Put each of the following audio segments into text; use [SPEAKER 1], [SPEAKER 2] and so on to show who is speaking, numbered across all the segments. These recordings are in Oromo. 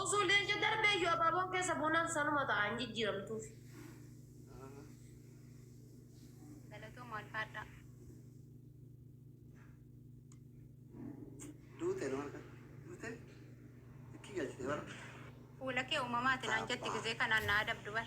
[SPEAKER 1] Osoo leenca darbee iyyuu abaaboon keessa buunaan sanuma ta'a hin jijjiiramtuuf.
[SPEAKER 2] Galatooma alfaadhaa.
[SPEAKER 3] Duute nama kan duute itti galchite bara. Fuula kee
[SPEAKER 2] uumamaati naan jetti gizee kanaan na adabdu bar.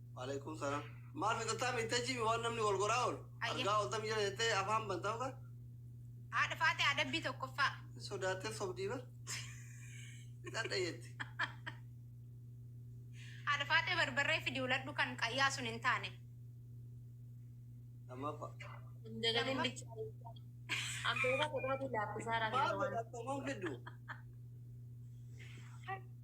[SPEAKER 2] Waaleykum salaam. Maal
[SPEAKER 3] fixattaa miittee jiimi waan namni wal goraa oolu. Ayya. Argaa ooltam jira jettee afaan bantaa uka. Haadha
[SPEAKER 2] faatee adabbii tokkoffaa. Hin sodaattee sobdii
[SPEAKER 3] bar. Fixadha jetti.
[SPEAKER 2] Haadha faatee barbarree fidi uladhu kan qayyaa sun hin taane.
[SPEAKER 3] Lammaffaa. Dagalee
[SPEAKER 1] bichaa. Abbeera godhaa dilaa kusaara Maal godha akkamiin
[SPEAKER 3] fiddu?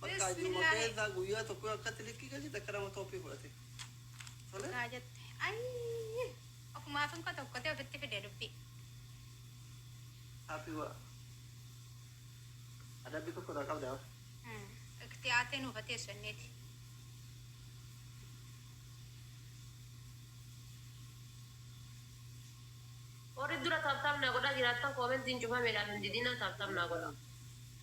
[SPEAKER 2] Bakkaa jiruma
[SPEAKER 3] keessaa guyyaa tokko yoo akkatti likkii galchite akka nama tooppii fudhate. Tole? Dhugaa jette.
[SPEAKER 2] Ayii. Ofumaaf hin kotokkotee ofitti fide dubbii.
[SPEAKER 3] Happy wa. Adabbii tokko irraa qabdaa? Hmm. Iktiyaatee
[SPEAKER 2] nuuf haa teessu jenneeti.
[SPEAKER 1] Warri dura taaptaap naa godhaa jiraattan koomentiin cufameedhaaf hin didinaa taaptaap naa godhaa.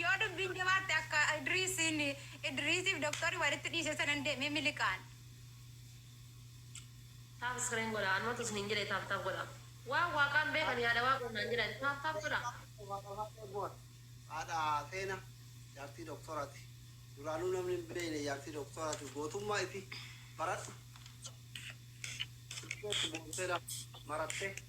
[SPEAKER 2] Yoo dubbiin jabaatte akka Idriisiin Idriisiif doktorri walitti dhiise sanan deemee miliqaan.
[SPEAKER 1] Taaf screen godha anumatu isinin jedhe taaf taaf godha waan waaqaan beekan yaada waaqoon naan jedhan taaf taaf godha. Haadha
[SPEAKER 3] teena jaartii doktorati duraanuu namni hin beeyne jaartii doktorati gootummaa iti baradhu. Maratte.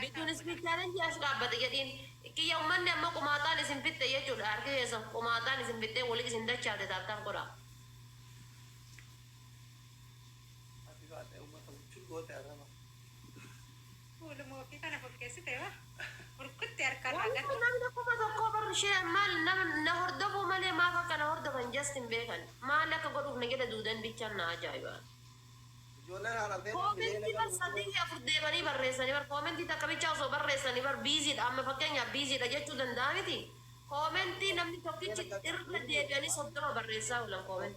[SPEAKER 1] Bittuun speed challenge as dhaabbate jedhiin. Kiyya ummanni amma qumaaxaan isin fixxe jechuudha harki keessan qumaaxaan isin fixxee wali isin dachaafte tap tap godhaa. Happy birthday ummata
[SPEAKER 2] buchuu goote arraba. Kuulumaa ofii kana fokkeessite ba burkutti harka irraa
[SPEAKER 1] Wallaahi gatuu. namni kuma tokkoo bar share maal nama na hordofuu malee maaf akka na hordofan just hin beekan. Maal akka godhuuf na jala duudan bichaan na ajaa'iba. Comment bar sadii fi afur deemanii barreessani bar comment takka bichaa osoo barreessani bar busy dha amma fakkeenyaaf busy dha jechuu danda'a miti comment namni tokkichi irra
[SPEAKER 3] deebi'anii soddoma barreessaa oolan comment.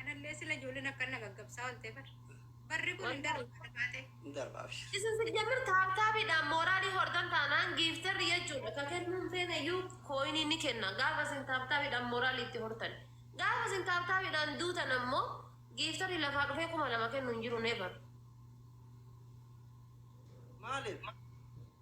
[SPEAKER 3] Anallee
[SPEAKER 2] sila ijoolleen akkan na gaggabsaa oolte bar. Barri kun hin darbu kana baatee. Hin darba
[SPEAKER 3] abshir. Isin sijjamir
[SPEAKER 1] taaptaabiidhaan mooraalii hortan taanaan giiftarri jechuudha ka kennuu hin feene iyyuu kooyinii ni kenna gaafa isin taaptaabiidhaan mooraalii itti hortan. Gaafa isin taaptaabiidhaan duutan ammoo giiftarri lafaa dhufee kuma lama kennu hin jiru never. Maalif?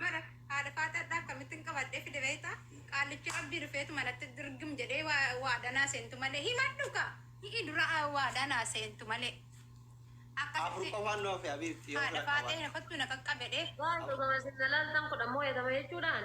[SPEAKER 2] Bara haadha faataadhaa akkamittin qabadhee fide beektaa? Qaallichi Rabbii dhufeetuma natti dirgim jedhee waa- waadaa naa seentu malee himadhu kaa! Hi'i dura aa, waadaa naa seentu malee. Afur Akkasitti
[SPEAKER 3] qofaan nu hafe
[SPEAKER 2] Habiibti yoo
[SPEAKER 3] haadha bira faatee qabaadha. na kottu
[SPEAKER 2] na qaqqabedhee. Waan dhugamas hin
[SPEAKER 1] lalaaltan kudha mooyatama jechuudhaan.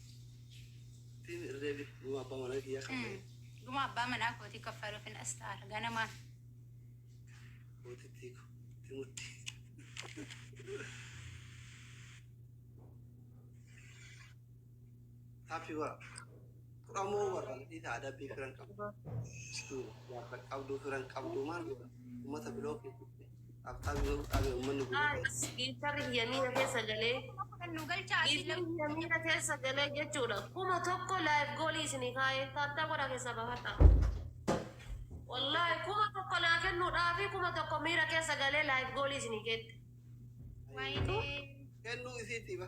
[SPEAKER 3] Ittiin irra deebi'e dhuma abbaa manaa kiyyaa kaffalee Dhuma abbaa manaa
[SPEAKER 2] kootii kaffaluuf hin astaara. Ganamaan. mootittii
[SPEAKER 3] koo itti murtii. Happy bara. Qoramoo warra dhiita aadaa biyya firan qabu. Gaafa qabduu firan qabduu maal godha? Uummata biloo keessatti. Abtaab yoo fudhaame ummanni gubee. As giiftarri
[SPEAKER 1] kiyya miira keessa galee. Kuma kudhan nu galchaa asii
[SPEAKER 2] Giiftarri lammiin. kiyya miira keessa
[SPEAKER 1] galee jechuudha. Kuma tokko live goolii isinii kaa'ee taaptaa godhaa keessaa baafadhaa. Wallaahi kuma tokko naa kennuudhaafi kuma tokko miira keessa galee live goolii isinii keette. Waayinee.
[SPEAKER 2] Kennuu
[SPEAKER 3] isiitiiba.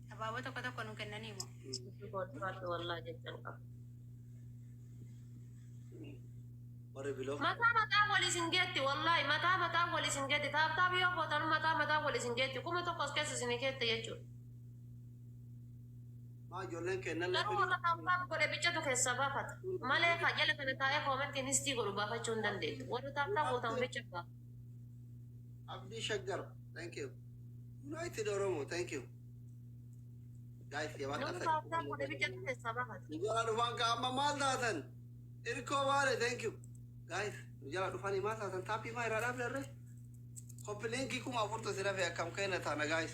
[SPEAKER 3] Abaaboo
[SPEAKER 2] tokko tokko nu kennanii moo? Koottumaatti wallaa
[SPEAKER 1] jechan qaba.
[SPEAKER 3] Warri biloo. Mataa mataa wal isin
[SPEAKER 1] geetti wallaahi mataa mataa wal isin geetti taaptaap yoo gootan mataa mataa wal isin geetti kuma tokko as keessa isin keetta jechuudha.
[SPEAKER 3] Maa ijoolleen kennan Garuu lafa warra taaptaap
[SPEAKER 1] godhe bichatu keessaa baafata. Malee kaa jala kana taa'ee koomentiin histii godhu baafachuu hin dandeettu. Warri taaptaap gootan bicha baafata.
[SPEAKER 3] Abdii Shaggar, thank you. United Oromo, thank you. Guys, yaa waan Namni taasisu. baasaan godhe
[SPEAKER 1] biyya keessaa baafata. Nu jala dhufan ka amma
[SPEAKER 3] maal taatan? Irkoo baale, thank you. Guys, nu jala dhufanii maal taatan? Taappii maa irraa dhaabdarre? Koppi liinkii kuma afurtu si dhafe akkam keenya taana guys.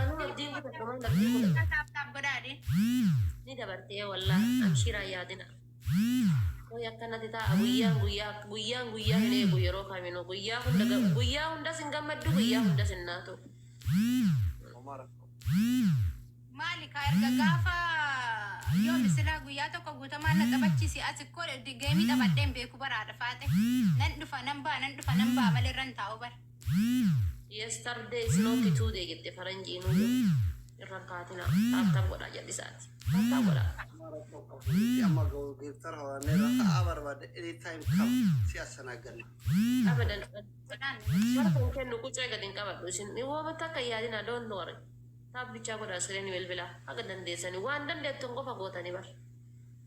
[SPEAKER 3] Anuu
[SPEAKER 1] abdiin kutadha waan abdii kutadha. Isaa taap taap godhaa
[SPEAKER 2] dee. Ni
[SPEAKER 1] dabartee wallah amshiiraa yaadina. Way akkanati taa'a guyyaan guyyaa guyyaan guyyaa hin eegu yeroo kaminuu guyyaa hunda ga- guyyaa hundas hin gammaddu guyyaa hundas hin naatu. Homaa rakkoo. Maali
[SPEAKER 2] kaa erga gaafa yoomi silaa guyyaa tokko guutamaan na taphachiisi as ikkoo geemii taphadheen beeku baraadha faaxe. Nan dhufa nan ba'a nan dhufa nan ba'a malee irra hin taa'u bara.
[SPEAKER 1] Yesterday is not today jette faranjiin hin rakkaatina taattaa godhaa jallisaati taattaa godhaa. Amma rakkoo qabu nuti
[SPEAKER 3] amma ga'u geeftar horaannee irra ta'aa barbaadde any time kam si assanaaganna. Abadan
[SPEAKER 1] bara kan kennu qucee gad hin qabadhu isin wooma takka hin yaadina don't worry taab bichaa godhaa iskiriinii bilbilaa haga dandeessani waan dandeettan qofa gootani bar.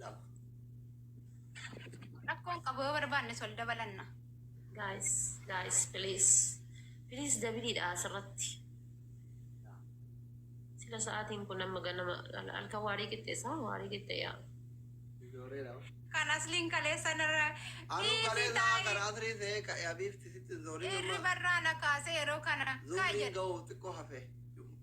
[SPEAKER 3] lama.
[SPEAKER 2] Rakkoon qabu yoo barbaanne sol dabalanna. Guys,
[SPEAKER 1] guys, please. Please dabiliidha asirratti. Sila sa'aatiin kun amma ganama halkan waarii qixxeessa waarii qixxeeyaa. Ijoolleedha.
[SPEAKER 3] Kan asliin
[SPEAKER 2] kaleessan irra Anuu dhiisi galee isaa
[SPEAKER 3] taa'e karaa asirii ta'ee ka'ee abiifti sitti zoolii irri barraana
[SPEAKER 2] kaasee yeroo kana kaa zoolii jedhe. ga'uuf
[SPEAKER 3] xiqqoo hafee.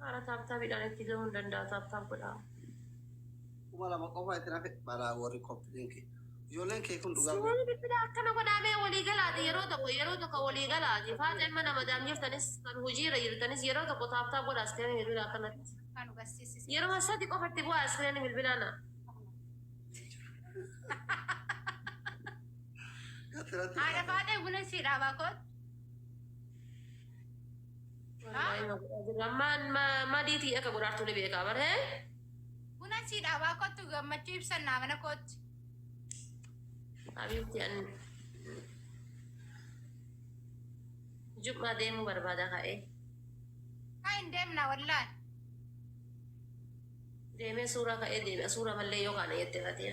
[SPEAKER 1] Haara taaptaabiidhaan itti gahuu hin danda'a taaptaab godhaa.
[SPEAKER 3] kuma lama qofa itti nafe balaa warri kompilinki ijoolleen kee kun dhugaa Simuun bilbila akkana
[SPEAKER 1] godhaamee walii galaati yeroo tokko yeroo tokko walii galaati faaxee mana madaam jirtanis kan hojiirra jirtanis yeroo tokko taaptaa godha askireen bilbila akkanatti
[SPEAKER 2] Kan hubachiisise. yeroo sadi qofatti
[SPEAKER 1] bu'aa askireen bilbilaana.
[SPEAKER 2] Asirratti Haadha faadhee buna sii dhaabaa koot.
[SPEAKER 1] Ammaan madiitii akka godhaartuu ni beekaa baree. Buna
[SPEAKER 2] sii dhaabaa koottu gammachuu ibsannaa mana kootti.
[SPEAKER 1] Abiitti an jummaa deemuu barbaada ka'ee. Haa
[SPEAKER 2] hin deemna wallaan.
[SPEAKER 1] Deemee suuraa ka'ee deebi'a suuraa mallee yoo kaana jettee fatii.